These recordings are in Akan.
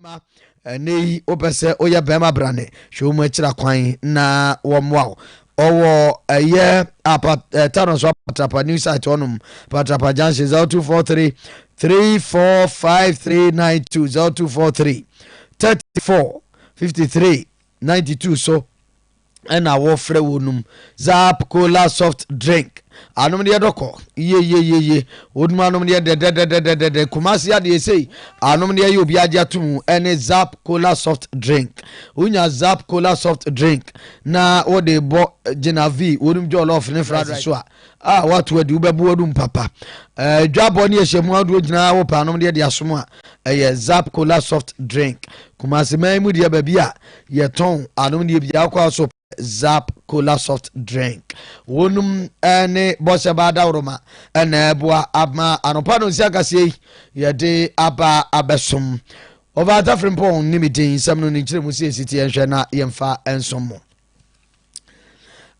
ma ɛnɛ yi wopɛ sɛ woyɛ bɛrima brane hwɛ wɔn akyira kwan na wɔmmoa wo ɔwɔ ɛyɛ apat ɛɛ tano so apatrapa new site hɔnom patrapa junction zero two four three three four five three nine two zero two four three thirty four fifty three ninety two so. ɛna wɔfrɛ wo num zap cola soft drink anom deɛ dɔkɔ yeyeyeye wonum anom deɛ dɛdɛdɛdɛdɛdɛ kumase adeɛ sei anom deɛ yɛ obi agye ato mu ɛne zap cola soft drink wonya zap cola soft drink na wode bɔ gyina v wonum jɔlɔf ne fries so a a wɔato adi, wobɛbo adu mpapa. Eh, dwabɔ ne ɛhyɛ mu ahodoɔ nyinaa wɔ paanom deɛ de asom a ɛyɛ zap cola soft drink kumase man mu deɛ baabi a yɛtɔn anom deɛ biara kɔ so zap cola soft drink wɔnom eh, ne bɔsɛ baa dawroma ɛna ɛboa ama anɔpa no nsi akaseɛ yi yɛde aba abɛsom ɔbaata firimpɔn ne me din nsɛm no ne nkyerɛ mu sɛ ɛsi te yɛnhwɛ na yɛmfa nsom mo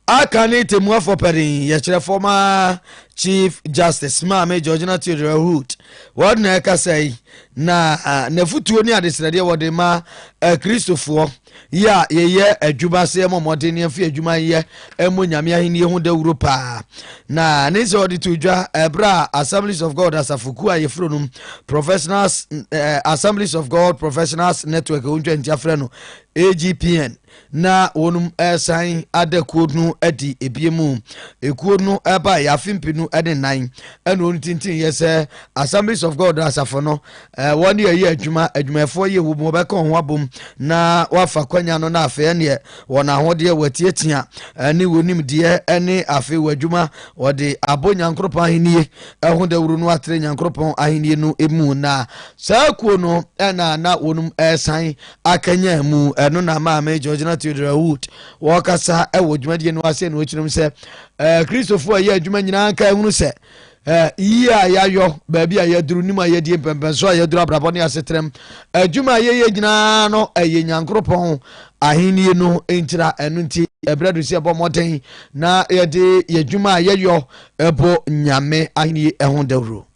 Aka ne Temuafoɔ Panin yɛkyerɛ fɔma Chief Justice Maame Georgina Theodora Hood wɔn na ɛkasa yi na n'afutuo ne adesrɛdeɛ wɔde ma Kristofoɔ yi a yɛyɛ adwuma sɛ yɛmɔ mmɔden ne yɛmfi adwuma yɛ mmɔ Nyame ahenni ho dawuro paa na ne nsɛ wɔde to dwa ɛberɛ a Assemblies of God asafokuo a yɛfuro nom Professionals Assemblies of God Professionals Network ɔntwa ntia frɛ no AGPN na wɔnom ɛresan ada kuo no adi ebie mu ekuo no ɛba yɛ afe mpenu ɛne nan ɛna wɔn tintin yɛ sɛ assemblies of god asafo no ɛɛ wɔn yɛ yɛ adwuma adwumayɛfoɔ yɛ wɔ mu wɔbɛka wɔn ho abom na wɔafa kwanya no na afei ɛneɛ wɔn ahodeɛ wɔatiatia ɛne wɔn nimdeɛ ɛne afei wɔ adwuma wɔde abɔ nyankoropɔn ahennie ɛho dawuro no atere nyankoropɔn ahennie no emu na saa kuo no ɛna na wɔnom ɛresan akanyan mu. Ɛno na maame Georgina Theodora Wood wɔkasa wɔ dwumadie no ase na ɔkyerɛm sɛ Kristofo a ɛyɛ adwuma nyinaa nka ɛhunu sɛ yie a yɛayɔ baabi a yɛaduru nim a yɛdie mpɛmpɛnso a yɛaduru abrabɔ ne asetrɛm adwuma a yɛyɛ nyinaa no ɛyɛ nyankoropɔn ahenni no ntira ɛno nti ɛberɛ do sɛ ɛbɔ mmɔden na yɛde yɛdwuma a yɛyɔ ɛbɔ nyame ahenni ho dawuro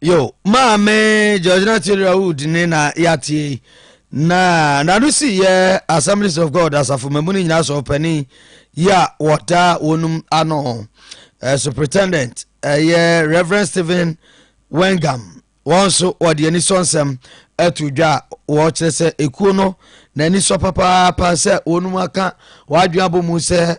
yo maame georgina theodora wood ne na yɛatie na nano si yɛ assemblies of god asafo mamu no nyinaa sɛ ɔpani yi a wɔtaa wɔnom ano uh, superintendent ɛyɛ uh, reverend stephen wengam wɔn nso wɔde ani sɔ nsɛm ato dwa a wɔkyerɛ sɛ ekuo no n'ani sɔ papaapa sɛ wɔnom aka wɔadwene abɔ mu sɛ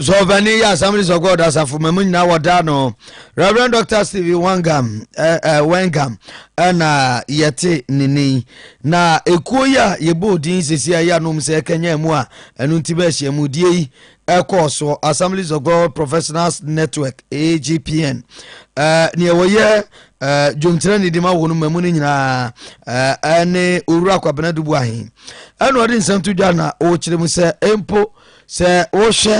So ɔbani yɛ Assemblies of God asafo ma mu nyinaa wɔda no Reverend Dr. Stephen Wangam eh, eh, Wangam ɛna yɛte ne nin na ekuo yi a yɛbɔ odin sisi a yɛ anom sɛ ɛkanya mu a ɛno nti bɛ ahyia mu die yi ɛkɔɔ so Assemblies of God Professionals Network AGPN eh, nea wɔyɛ eh, dwomkyerɛ ne di ma wɔn ma mu no nyinaa eh, ɛne owura kwabena dubu ahen ɛna ɔde nsɛm to dwa na ɔkyerɛ mu sɛ mpo Sɛ wohwɛ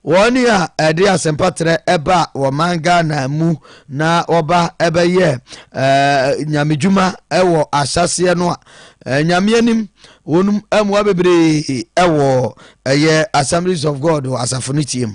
wɔn a ɛde asɛmpa trɛ ɛba wɔ man Ghana mu na wɔba ɛbɛyɛ ɛɛ nyamedwuma ɛwɔ ahyɛseɛ no a ɛɛ nyameanim wɔn mmoa bebree ɛwɔ ɛyɛ Assemblies of God wɔ asafo no tie mu.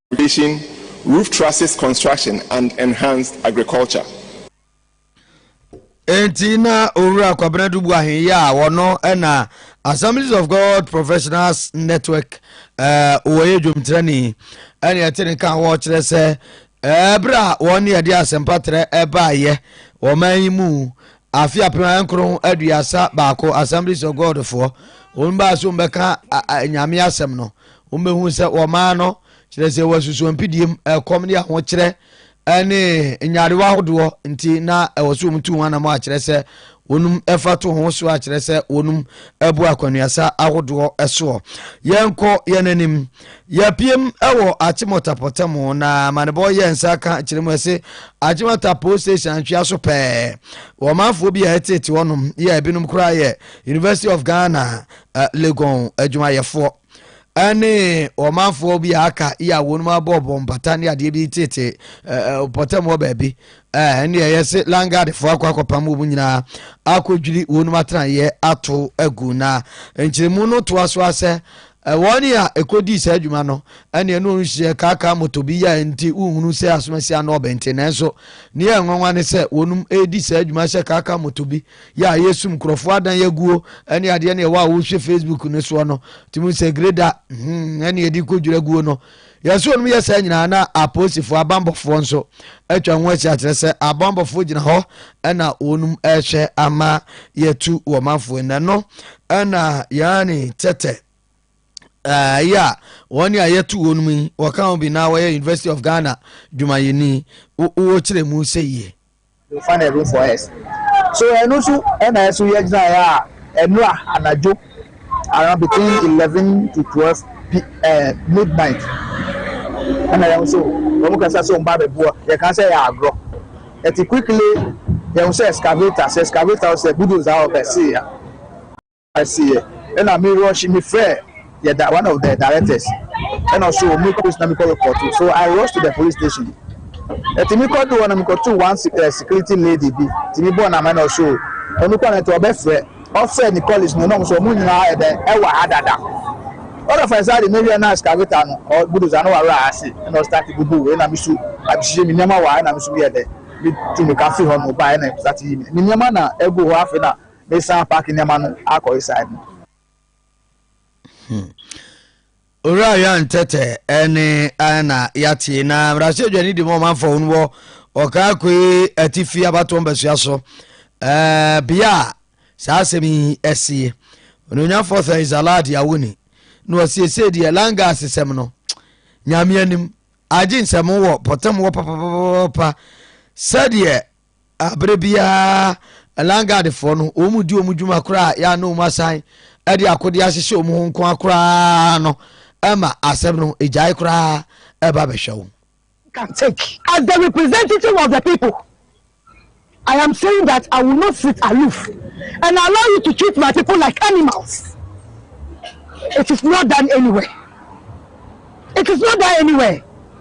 irrigation, roof trusses construction and enhanced agriculture. Enti na Owura Kwabena Dubu Ahenye a wɔno na Assemblies of God Professionals Network eh, wɔyɛ dwomtrani ɛne ɛte ne kan wɔkyerɛ sɛ eh, berɛ a wɔn ne ɛde asɛmpa trɛ ɛbaayɛ wɔman yi mu afe apem nkron aduasa baako Assemblies of God foɔ wɔn baa so bɛka nyame asɛm no Wɔbɛhu sɛ wɔmaa no, kyerɛ sɛ wɔasusu mpidiem, ɛkɔm ne ahokyerɛ ne nyarewa ahodoɔ nti na ɛwɔ sɛ wɔtu ho anamɔ akyerɛ sɛ wɔnum ɛfa to ho so akyerɛ sɛ wɔnum ɛbu akwanuasa ahodoɔ ɛsoɔ. Yɛnkɔ yɛn anim. Yɛpiem ɛwɔ Achimota pɔtamu na amanebɔ yɛ nsa ka kyerɛ mu ɛse Achimota Police Station antwea so pɛɛ. Wɔmanfoɔ bi a ɛtete hɔnom yɛ ebinom koraa yɛ University of Ghana uh, Legon adwumayɛfoɔ. ɛne ɔmanfoɔ bi a aka yi a wɔnom abɔ bɔ mpata ne adeɛ bi tete pɔtam hɔ baabi ɛne ɛyɛ se langadefoɔ akɔ akɔpam wɔ mu nyinaa akɔdwiri wɔnom atenaeɛ ato agu na nkyerɛmu no toa so asɛ wɔn a ɛkɔdii saa adwuma no ɛne ɛno nhyɛ kaakaa moto bi yɛ nti wohunu sɛ asomasi ano ɔbɛnte nanso ne yɛ nwanwa ne sɛ wɔnom ɛredi saa adwuma hyɛ kaakaa moto bi yɛ a yɛsum nkurɔfoɔ adan aguo ɛne adeɛ ne ɛwɔ a wohwɛ facebook no soɔ no tumi sɛ greda hmm, ɛne yɛde kɔdwira aguo no yɛsɛ ɔnom yɛ saa nyinaa na apolisifoɔ abambɔfoɔ nso atwa ho asi akyerɛ sɛ abambɔfoɔ gyina hɔ ɛna wɔnom ɛhwɛ ama yɛtu wɔ manfoɔ nnɛ no ɛna yɛane tɛtɛ ɛyɛ a wɔne a yɛto wɔnom yi wɔka ho bi na wɔyɛ university of ghana dwumayɛni wɔkyerɛ mu sɛ yie Fa na room for us so ɛno nso ɛna ɛso yɛ gyinaeɛ a ɛnora anadwo around between eleven to twelve pm midnight ɛna yɛn nso wɔn kasa sɛ wɔn ba abɛboa yɛn kan sɛ yɛ agorɔ ɛti quickly yɛn nso excavator sɛ excavator sɛ bulldozer a ɔbɛsi ya. Seɛ ɛna me rush me frɛ yɛ da one of the directors ɛna ɔso ɔmo kɔ police na me kɔ report so I rush to the police station ɛti me kɔ do hɔ na me kɔ to one eh, security lady bi ti me bɔ nama ɛna ɔso ɔno kɔ na ɛti ɔbɛ frɛ ɔfrɛ ne colleagues no na ɔmo so ɔmo nyinaa ɛdɛ ɛwɔ ha dada ɔna fa ɛsa de me wiɛ na excavator no ɔ budoza no wawura ha ase ɛna ɔstart bubu wei na me so abisisɛ me nneɛma wɔ ha ɛna me so yɛ dɛ me tu me ka fi hɔ no ba ɛna ɛstart yi me nneɛma na ɛgu hɔ afei na Mesan paake nneɛma no akɔ esae no. Hmm. Owura Ayan Tɛtɛ ɛne ɛna yɛate na mmarahyɛdwa ne di mu ɔmanfoɔ ho no wɔ ɔkaakoe atifi abatoɔ mbasua so ɛɛ bea a saa asɛm yi ɛsie ononyafoɔ sɛ isalad awoni na wɔsiesie deɛ langas sɛm no nyame anim agye nsɛm wɔ pɔtam wɔ papapapa sɛdeɛ Bere biara Langadfoɔ no, wɔn mu di wɔn dwuma koraa a yɛa na wɔn asan de akodeɛ ahyehyɛ wɔn ho nkoa koraa no ma asɛm no gyae koraa ɛba bɛhwɛ wo. can take. As the representative of the people, I am saying that I will not sit aloof and allow you to treat my people like animals. It is not done anywhere. It is not done anywhere.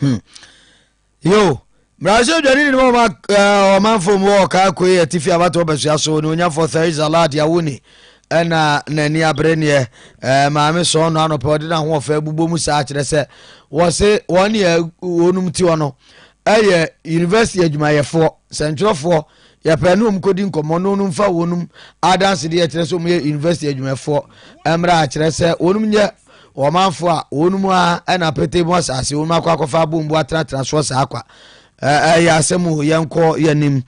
Hmm. Yo, Brazil dwani ni mama eh, ɔmanfo mu wɔ kaa koe atifi abatɔ basua so ne onyafo Theresa Lad Yawuni ɛna n'ani abere neɛ eh, maame sɔɔ no anɔpɛ ɔde n'ahoɔfɛ bubɔ mu saa kyerɛ sɛ wɔse wɔn neɛ wɔnom ti hɔ no ɛyɛ university adwumayɛfoɔ sɛntwerɛfoɔ Yɛpɛ ne wɔn kɔdi nkɔmmɔ na wɔn mfa wɔn adansedeɛ a ɛkyerɛ sɛ wɔn yɛ university adwumafoɔ mmra akyerɛ sɛ wɔn nyɛ ɔmanfoɔ a wɔn mu ara na apete mu asase wɔn akɔ akɔfa abombo atenatena soɔ saa kwa ɛyɛ asɛm o yɛnkɔ yɛnim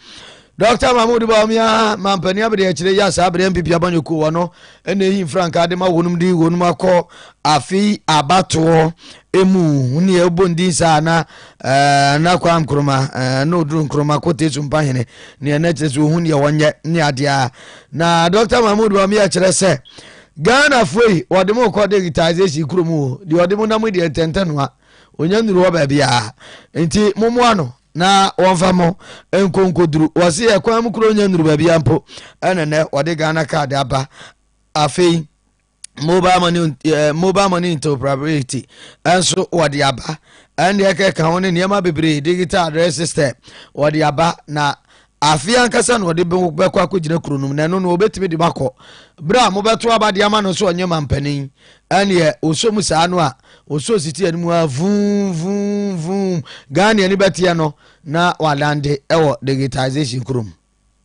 Dr. Mahmoud Bawumia mampanin abede akyire yɛ saa abede MPP abanyɔkuo wɔ no ɛna ehi mfrankaa de ma wɔn de wɔn akɔ afi abatoɔ emu ne ɛbɔ ndin saa na eh, na kwa nkroma eh, na oduru nkroma kɔ tesu mpa hene neɛ na kyerɛ sɛ ohun deɛ wɔnyɛ ne adeɛ a na dr mahmood bami akyerɛ sɛ ghanafoɔ yi wɔde mo kɔ digitization kurom o deɛ ɔde mo nam deɛ ntɛntɛ noa onya nnuru hɔ baabiaa nti mommoa no na wɔmfa mo nkonkoduru wɔse ɛkwan mu kuro nya nnuru baabia mpo ɛnenɛ wɔde ghana card aba afei mobile money ɛɛ mobile money interoperability ɛnso wɔde aba ɛndeɛ kɛka ho ne nneɛma bebree digital address system wɔde aba na afe ankasa na wɔde bɛkɔ akɔgyina kuro nom na ɛno no wɔbɛtumi de bakɔ berɛ a mobɛto aba de ama no so ɔnyɛ mampanin ɛneɛ ɔsɔ mu saa no a ɔsɔ siti anim a vum vum vum ghana ani bɛteɛ no na wadande ɛwɔ digitization kurom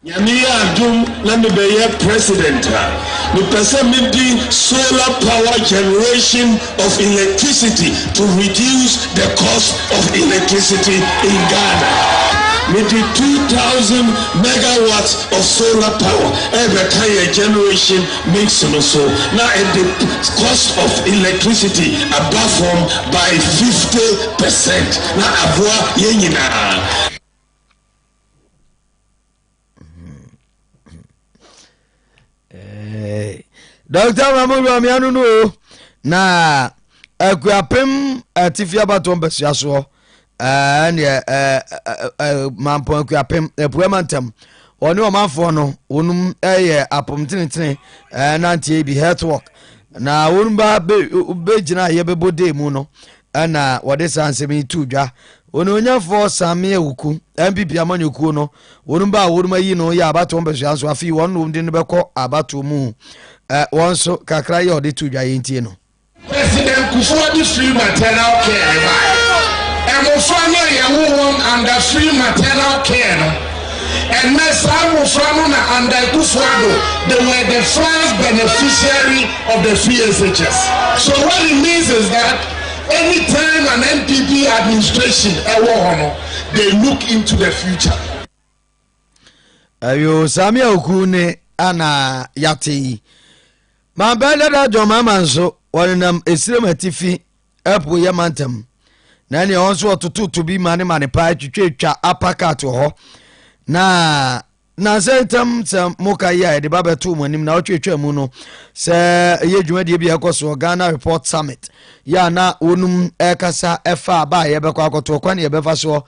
Nyame yɛ adom na me bɛyɛ president a, me pɛ sɛ me de solar power generation of electricity to reduce the cost of electricity in Ghana. Me de two thousand megawatts of solar power ɛrebɛka yɛn generation mix no so na ɛde cost of electricity aba fam by fifty percent na aboa yɛn nyinaa. dɔkta mamodu ameano no o na akuapem atifi abatoɔ mpasua soɔ ɛneɛ mampɔn akuapem apua ma ntam wɔne ɔmanfoɔ no wɔnom yɛ apom tenetene nanteɛ bi health work na wɔnom ba bɛgyina a yɛbɛbɔ dee mu no Ɛna wɔde saa nsɛm yi too dwa. Onuonyamfoɔ Sammie Awuku, NPP amanyɔkuo no, wɔnom ba a wɔnom ayi no yɛ abatoɔ mpɛsoa nso afei wɔn nom de no bɛkɔ abatoɔ mu. Ɛ, wɔn nso, kakra yi a wɔde too dwa yi ntie no. President Kufuor de free maternal care bae. Mmofra no a yɛwo wɔn under free maternal care no Ɛnnɛ, saa mmofra no na Andai Kufuor-Addo de were the first beneficiary of the FSHS. So what it means is that any time an NPP administration ɛwɔ hɔ no, they look into the future. Ayo saa miaoku ne ana yate yi. Mampɛ dada John Mahama nso wɔnenam Esirem Atifi Ɛpo yɛ ma ntɛm na ɛne ɛhɔ nso ɔtototo bi ma ne ma ne paa twitwatwa apakat wɔ hɔ na nansɛ ntɛm sɛ moka yi a yɛde ba bɛto mo anim na ɔtwitwa mu no sɛ ɛyɛ dwumadie bi a ɛkɔ soɔ ghana report summit yɛ a na wɔnum ɛkasa ɛfa aba a yɛbɛkɔ akɔto ɔkwan ne yɛbɛfa soɔ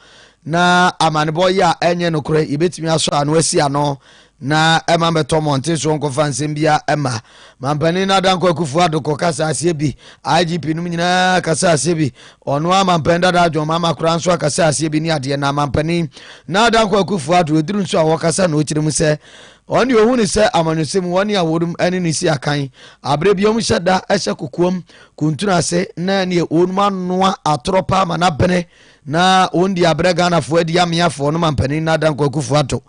na amanebɔ yɛ a ɛnyɛ nokorɛ yɛbɛtumi asɔ ano asi ano na ɛma bɛtɔ mmɔnten so nkɔfa nsɛm biara mma. Mampanin no Adanko Akufo Addo kɔ kasa aseɛ bi, IGP nom nyinaa kasa aseɛ bi, ɔno ara mampanin dada John Mahama koraa nso akasa aseɛ bi ne adeɛ na mampanin na Adanko Akufo Addo ɛduru nso a wɔkasa na ɔkyerɛ mu sɛ wɔn deɛ ɔhu ne sɛ amanyɔsɛ mu wɔne a wɔnom ne ne si akan aberɛ bi wɔn hyɛ da hyɛ kokoam kuntunu ase na neɛ wɔnom anoa atorɔ paa ma no abene Na wɔn di abrɛ Ghanafoɔ adi ameafoɔ no mampanin Nana Dankwa Akufo Addo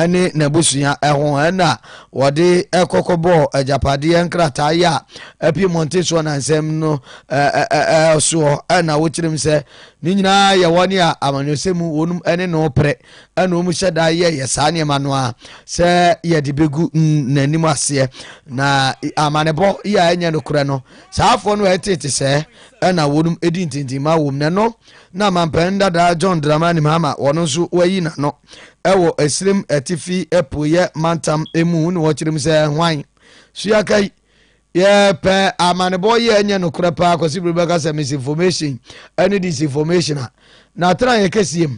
ne n'abusua ho ɛna wɔde kɔkɔbɔɔ agyapadeɛ nkrataa yɛ a apie mmɔnten soɔ nansɛm no soɔ ɛna wɔkyerɛm sɛ ne nyinaa yɛ wɔn a amanyɔsɛ mu wɔnom ne no pere ɛna wɔn hyɛ da yɛyɛ saa nneɛma no a sɛ yɛde bɛgu n'anim aseɛ na amanebɔ yɛ a ɛnyɛ nokorɛ no saafoɔ no ɛtete sɛ na wɔnom di ntintimma wom na ɛno na mampanin dadaa john dramani mahama wɔn nso wayi n'ano wɔ esirim atifi apueɛ mantam mu na wɔkyerɛ mu sɛ hwan so yɛaka yi yɛpɛ amanebɔ yi a ɛnyɛ nokorɛ paa kwasi bere bɛka sɛ misinformation ɛne disinformation a na atena yɛ kɛseɛ mu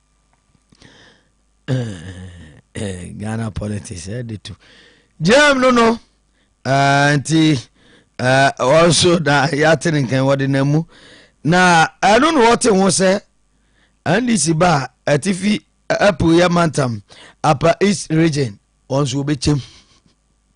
ghana politics ɛde to gyam no no nti wɔn nso na yɛate ne nkan wɔde na mu na ɛno na wɔte ho sɛ ndc ba a atifi apu yɛ mantam apa east region wɔn nso wɔbɛkyɛm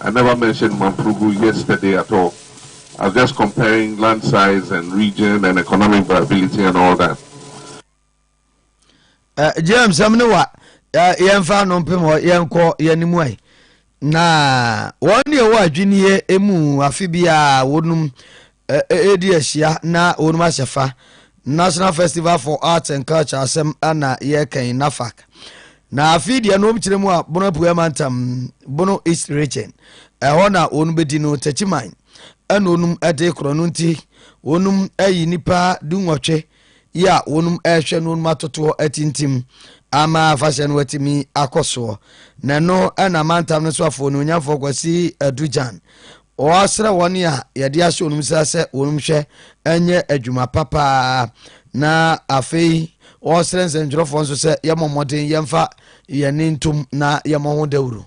I never mentioned Mamprugul yesterday at all, I was just comparing land size and region and economic viability and all that. Uh, James, sɛm ne wa uh, yɛmfa no mpem hɔ yɛnkɔ yɛne mu ai na wɔn ne ɛwɔ adwinneɛ mu afe biara wɔnum a ɛredi ahyia na wɔnom ahyɛ fa, National Festival for Arts and Culture asɛm na yɛreka yi, NAFAC. Na afei deɛ nom kyerɛ mu a Bono Apueɛ Mantam, Bono East Region, ɛhɔ na wɔnom bɛdi no Takyiman ɛna wɔnom de korɔ no nti wɔnom ayi nipa du nwɔtwe yi a wɔnom rehwɛ no wɔnom atotoɔ atintim ama afahyɛ no atumi akɔ soɔ. Na ɛno ɛna amantam no so afoɔ onuonyamfoɔ Kwasi Adugyan wɔsrɛ wɔn a yɛde ahyɛ wɔnom nsa sɛ wɔnom hwɛ ɛnyɛ adwuma pa paa na afei wɔsrɛ nsɛntwerɛfoɔ nso sɛ yɛmmɔ mmɔden yɛmfa yɛne ntom na yɛmmɔ ho dawuro.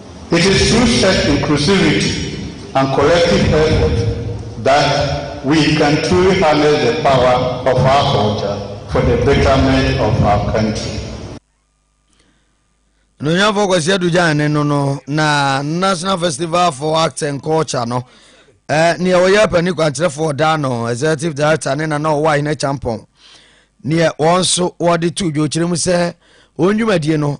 It is through such inclusivity and collective effort that we can truly harness the power of our culture for the betterment of our country. Nnuanyamfoɔ Kwasi Adu Gyan ne no no na National Festival for Arts and Culture no eh, neɛ wɔyɛ apani kwankyerɛfoɔ daa no executive director ne nana ɔwɔ ahene kyampɔn neɛ wɔn nso wɔde to dwokyerɛ mu sɛ wɔn dwumadie no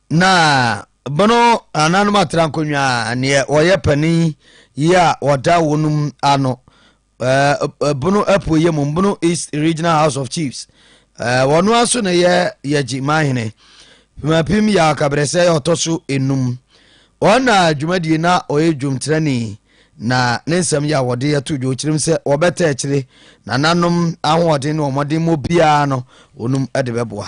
Na bono ananom atra nkonnwa a neɛ wɔyɛ panin yi a wɔda wɔnom ano ɛɛ bono apueɛ mu bono east regional house of chiefs ɛɛ wɔn aso na yɛ yɛgye manhene pimapim yɛ akabrɛsɛ yɛ ɔtɔ so enum wɔn na dwumadie na ɔyɛ dwomtirani na ne nsɛm yɛ a wɔde ato dwa ɔkyerɛm sɛ wɔbɛtɛ akyire nananom ahoɔden ne wɔn mmɔden mu biara no wɔnom de bɛboa.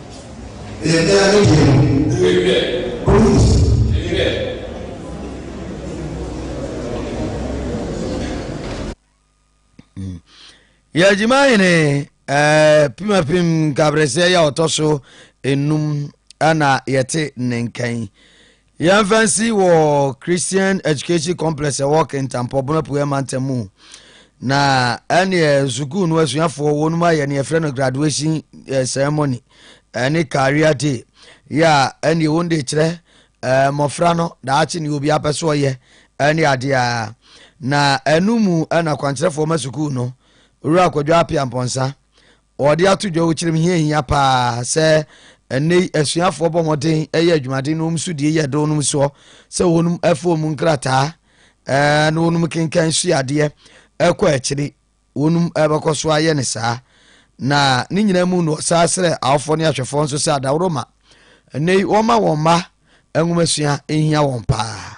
Ɛyɛ dɛn ade deɛ no? Police. Yɛgyima hene eh, pimapim nkabrɛsɛ yɛ ɔtɔ so enum ɛna yɛte ne nkan yɛmfa nsi wɔ christian education complex ɛwɔ kentampɔ bona puɛ mantam mu na ɛneɛ sukuu no asuafoɔ wɔnom ayɛ ne yɛfrɛ no graduation eh, ceremony ɛne eh, career day yɛ a ɛneɛ wɔn de kyerɛ eh, mmɔfra no daakye ne obi apɛ so ɔyɛ ɛne adeɛ a na ɛno mu ɛna kwankyerɛfoɔ ma sukuu no wura akwadwa apia mpɔnsa Wɔde ato dwa wɔ kyerɛm hia hia paa sɛ ɛnnɛ yi asuafoɔ bɔ mmɔden yɛ adwumaden na wɔn so die yɛ dɔn nom soɔ sɛ wɔnom ɛfa wɔn nkrataa ɛɛ na wɔnom kenkan sua adeɛ ɛkɔ akyiri wɔnom ɛbɛkɔ so ayɛ ne saa na ne nyinaa mu na ɔsaa srɛ awofoɔ ne ahwɛfoɔ nso sɛ adaworo ma ɛnnɛ yi wɔma wɔn mma nwomasua nhia wɔn paa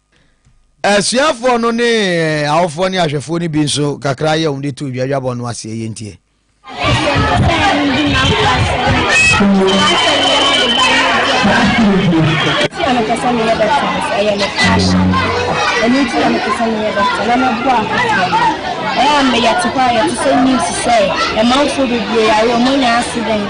Asuafoɔ no ne awofoɔ ne ahwɛfoɔ no bi nso kakra yɛ wɔn de to dwa dwabɔ no aseɛ yɛ ntie. ɛyɛ a meyɛ te hɔ a yɛte sɛ news sɛ ɛmanfoɔ bebree yare ɔmo anya accident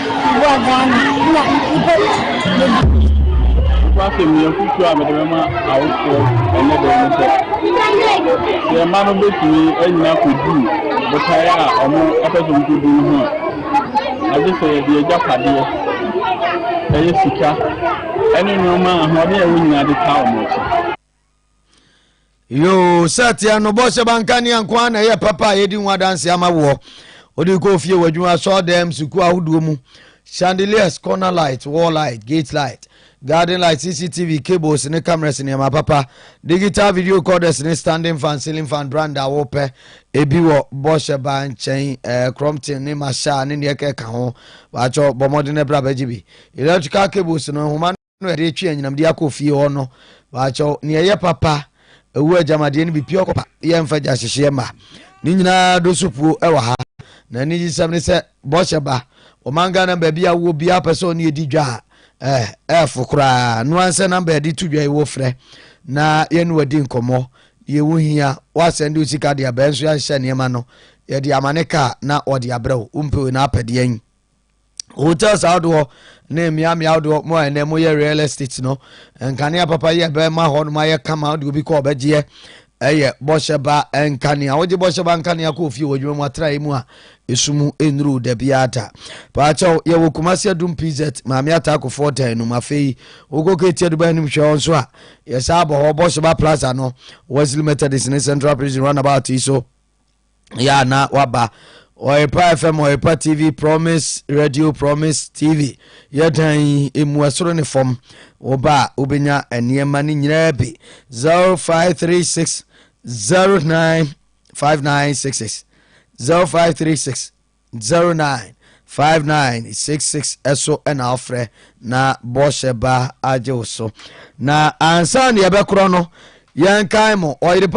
Boa Ghana na nnipa bebree. Ɛho asɛm yi afotuo a mede bɛma awofoɔ ɛnɛ da ne sɛ, sɛ yɛn mma no bɛtumi anyina kɔdu botaeɛ a wɔpɛ sɛ wɔkɔdu no ho a, agye sɛ yɛde agyapadeɛ, ɛyɛ sika, ɛne nneɛma a ahoɔden a ɛwɔ nyinaa de taa wɔn akyi. yoo sɛ teɛ no bɔ sɛ banka nea nko a na ɛyɛ papa a yɛdi ho adanse ama woɔ wode kɔɔ fie wɔ adwuma sɔɔ dɛm sukuu ahodoɔ mu chandeliers corner light wall light gate light garden light cctv cables ne cameras nneɛma papa digital video recorders ne standing fan ceiling fan brand a wopɛ ebi wɔ bɔhyɛ ba nkyɛn eh, crompton ne masha ne neɛ kɛka ho baakyɛ bɔ mmɔden brɛ abɛgye bi electrical cables no nhoma no ɛde retwe anyinam de akɔ fie hɔ no baakyɛw nea ɛyɛ papa ɛwɔ agyamadeɛ no bi pia ɔkɔpa yɛ mfa gya hyehyeɛ ma ne nyinaa do so puo ɛwɔ ha na ne yisɛm ne sɛ bɔhyɛ ba ɔman ghana baabi a wɔ biara pɛ sɛ ɔne ɛdi dwa a ɛɛ ɛɛfo koraa no ansɛ namba yɛde to dwa yi wɔ frɛ na yɛne wadi nkɔmmɔ deɛ wo hia woasɛn de osika deɛ bɛn nso yɛnhyɛ nneɛma no yɛde amane kaa na ɔde abrɛ wo wompɛ wei na apɛdeɛ yi hotels ahodoɔ ne mmeammea ahodoɔ mu a ɛnɛ moyɛ real estate no nkanea papa yɛ bɛma hɔ nom ayɛ kama de obi kɔ ɔbɛgyeɛ ɛyɛ bɔhyɛ ba nkanea wogye bɔhyɛ ba nkanea kɔ ofie wɔ adwuma mu atrae mu a ɛsu mu nnuru da biara da paakyɛw yɛwɔ kumase adum pz maame ataakofoɔ dan no mu afei wokɔ kɛti aduba anim hwɛ hɔ nso a yɛsaa bɔ hɔ bɔhyɛ ba plaza no wesley methodist ne central prison runabout yi so yɛ a na waba ɔrepa fm ɔrepa tv promise radio promise tv yɛ dan yi emu ɛsoro ne fam wɔba a wobɛnya nneɛma no nyinaa bi 0536 09 5966 0536 09 5966 ɛso ɛna ɔfrɛ na bɔhyɛ ba agye wo so na ansa ne yɛbɛkorɔ no yɛnkae mo ɔyere pa